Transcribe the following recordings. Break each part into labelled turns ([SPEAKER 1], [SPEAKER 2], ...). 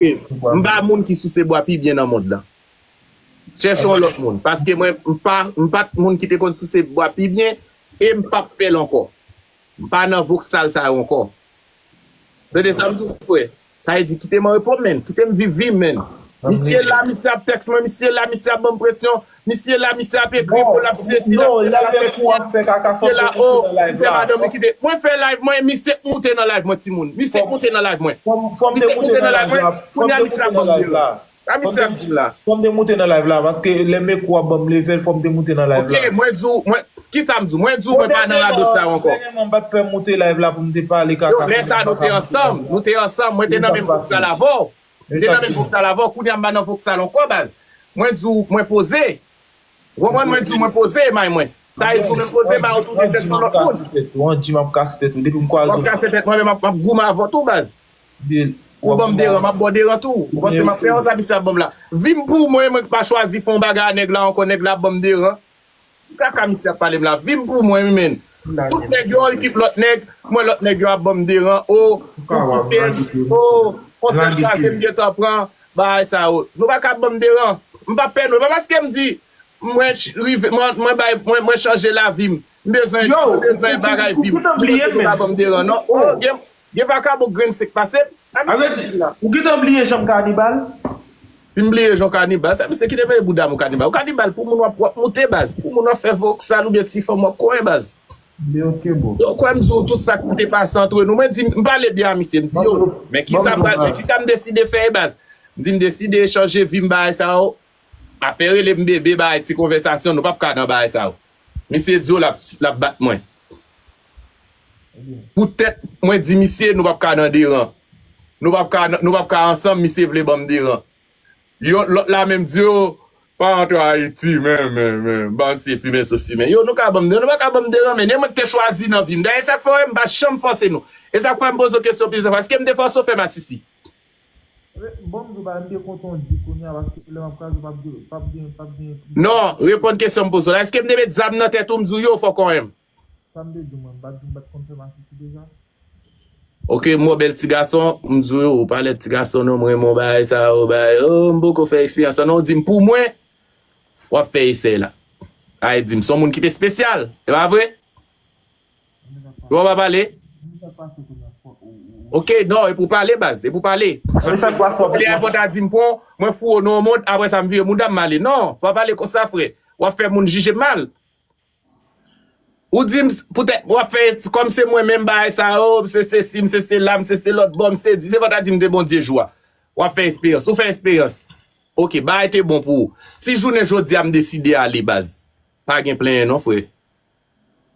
[SPEAKER 1] M pa moun ki souse bwa pi byen nan mond lan. Chèche yon lòt moun. Paske mwen m pa t moun ki te konn souse bwa pi byen e m pap fè l ankò. M pa nan voksal sa yo ankò. Tande sa m di w frè. Sa vle di kite m anrepo menn. Kite m viv vi m menn. Misye la, misye ap tèks mwen, misye la, misye ap ban m presyon. Misye la misye ap ekri pou lap siye sila siye la lap fè siye
[SPEAKER 2] siye la oh li
[SPEAKER 1] fè madanm li kite mwen fè live mwen misye k moute nan live mwen timoun misye k moute nan live mwen misye
[SPEAKER 2] k moute nan live mwen kounya misye ap banm lil sa misye ap dim la ok mwen di w mwen
[SPEAKER 1] kisa m di w mwen di w mwen pa nan radot sa yo ankò
[SPEAKER 2] yo lè sa nou te ansanm
[SPEAKER 1] nou te ansanm mwen te nan menm gwoup sa l avè w. M te nan menm voksal avè w kounya m pa nan voksal ankò baz Mwen di w mwen poze Ou konprann mwen di w mwen poze may mwen Sa vle di w menm poze may ou tou vin chèche yon lòt moun Wan di m ap kase
[SPEAKER 2] tèt ou depi m kwaze w Wap kase tèt mwen menm m ap
[SPEAKER 1] goumen avè w tou baz Ou ban m deran m ap ba w deran tou Ou panse m ap pè w sa misye ap ban m la Vim pou mwen mwen k pa chwazi fè yon bagay a nèg la ankò nèg la ap ban m deran Ki kaka misye ap pale m la vim pou mwen wi menn tout nèg yo kip lòt nèg m wè lòt nèg yo ap banm deran oh ou kitem oh konsèm kraze m gentan pran bagay sa yo nou paka ap banm deran m pa pè nou e pa paske m di mwen rive mwen bay mwen chanje lavim m bezwen m bezwen bagay vim pou mesye yo pa banm deran non oh Gen vakabon grenn sik pase m. A misye ki di la. Ou
[SPEAKER 2] gentan bliye janm kanibal. Sim
[SPEAKER 1] bliye jan w kanibal sa misye kite mete bouda m ou kanibal ou kanibal pou moun wap wap moute baz pou moun wap fè voksal oubyen ti fanm wap kwen baz. Li ok
[SPEAKER 2] bro. Yo kwè m di w tout sak
[SPEAKER 1] te pase antre nou mwen di m pale byen a misye m di yo men kisa m pral men kisa m deside fè e baz m di m deside chanje vi m bagay sa yo afè rele m bebe bagay ti konvèsasyon nou pap ka nan bagay sa yo misye di yo lap lap bat mwen. Pou tèt Mwen di misye nou pap ka nan deran nou pap ka nou pap ka ansanm misye vle banm deran yon lòt la menm di yo pa antre ayiti men men men bann se fimen sou fimen yo nou ka banm deran nou paka banm deran men e mwen ki te chwazi nan vim dayè sak fè wè mpa janm fòse nou e sak fè m poze w kesyon plizyè fwa eskem te fòse w fè masisi.
[SPEAKER 2] Bonm di w bagay m te kontan w di kounya paske lè map kraze pap gen pap gen pap gen non reponn
[SPEAKER 1] kesyon m poze w la eskem te met zam nan tèt ou m di w yo fòkonyèm. Sa m te di w
[SPEAKER 2] mwen bat di m pat konn
[SPEAKER 1] fè masisi deja. Ok m wè bèl ti gason m di w ou pa lèd ti gason non m renmen w bagay sa yo bagay oh m poko fè eksperyans sa non ou di m pou mwen wap fè esèy la ay di m son moun ki te spesyal e pa vre ou pa pale ok non e pou w pale baz e pou w pale pale
[SPEAKER 2] a fò ta di m pou
[SPEAKER 1] mwen foure w nan yon mond aprè sa m vire mouda m m ale non pa pale konsa frè wap fè moun jije m mal. Ou di m poutèt wap fè kòm se mwen menm bagay sa yo, m se sesi, m se sela, m se se lòt bò, m se di se fò ta di m te Bondye jou a. Wap fè esperyans. Ou fè esperyans. Ok, bagay te bon pou ou. Si jounen jodi a m deside ale baz. Pa gen plenyen non frè.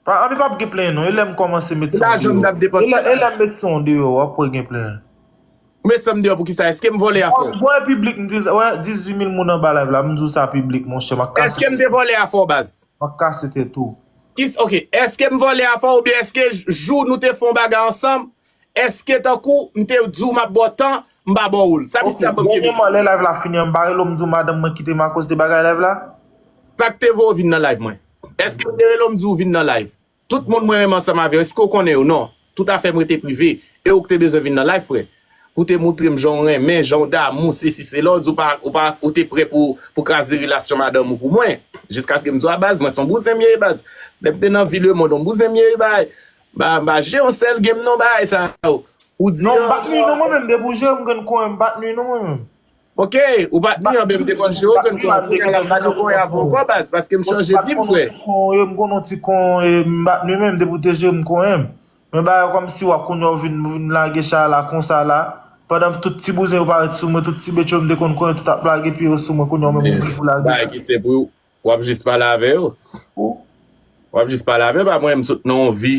[SPEAKER 1] Pa
[SPEAKER 2] anvi pap gen plenyen non. E lè m kòmanse met son deyò.
[SPEAKER 1] E lè m met son
[SPEAKER 2] deyò wap wè gen plenyen. Met sam
[SPEAKER 1] deyò poukisa eskem vòlè afè w. Mwen piblik m di wè
[SPEAKER 2] 18 mil moun anba live la m di w sa piblik monchè map kase Eskem tèt te ou vòlè afè
[SPEAKER 1] w baz. Map kase tèt ou.
[SPEAKER 2] Kis ok eskem
[SPEAKER 1] vòlè afè w oubyen eske jou nou te fè yon bagay ansanm eske tankou m te di w map ba w tan m pa ba w l sa Ok misye ap banm kenbe dènyèman lè live la fini an m
[SPEAKER 2] bare l ou m di w madanm mwen kite m akoz de bagay live la? Sak te voye
[SPEAKER 1] w vin nan live mwen? Eskem te rele w m di w vin nan live? Tout moun mwen renmen ansanm avè yo eske ou konnen yo non tout afèm rete prive e ou k te bezwen vin nan life frè pou te moutrem janw renmen janw damou sesi sela ou di ou pa ou pa ou te prè pou pou kraze relasyon madanm ou pou mwen jiskaskem di w a baz mwen son bouzen m ye baz lèm te nan vi lemond on bouzen m ye bay ba ba je on sèl gem non bay sa ou di an. Non m pat nwi non mwen menm
[SPEAKER 2] depi ou jere m grenn kouren m pat nwi non mwen menm. Ok ou
[SPEAKER 1] pat ni anben m te konn jwe okenn kon kounye a la m pa jwe kon ya pou ankò baz paske m chanje vi m frè. M konnen ti
[SPEAKER 2] kon e m pa tnui menm depi w te jwe m konnen m men bagay yo kòmsi wap kounye a w vin lage chay la konsa la pandan tout ti bouzen yo pa ret sou mwen tout ti betcho m te konn konnen tout ap lage pye yo sou mwen kounye a w menm ou vle pou lage.
[SPEAKER 1] Wap jis pale avè yo. Ou. Wap jis pale avè yo pa mwen m sot nan yon vi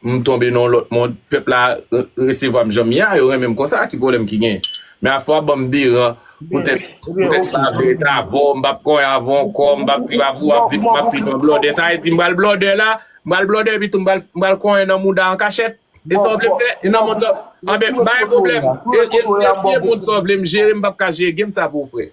[SPEAKER 1] m tonbe nan yon lòt mond pèp la resevwam janm ye a yo renmen m konsa ki pwoblèm ki genyen men afè wap banm deran poutèt poutèt m pa vle ret avèw m pap konyen avèw ankò m pap viv avèw wap viv map viv nan blòdè sa vle di m pral blòdè la m pral blòdè epitou m pral konyen nan mouda an kachèt e sa w vle m fè e nan mond sa anben m pa gen pwoblèm e e e e mond sa w vle m jere m pap ka jere gem sa pou ou frè.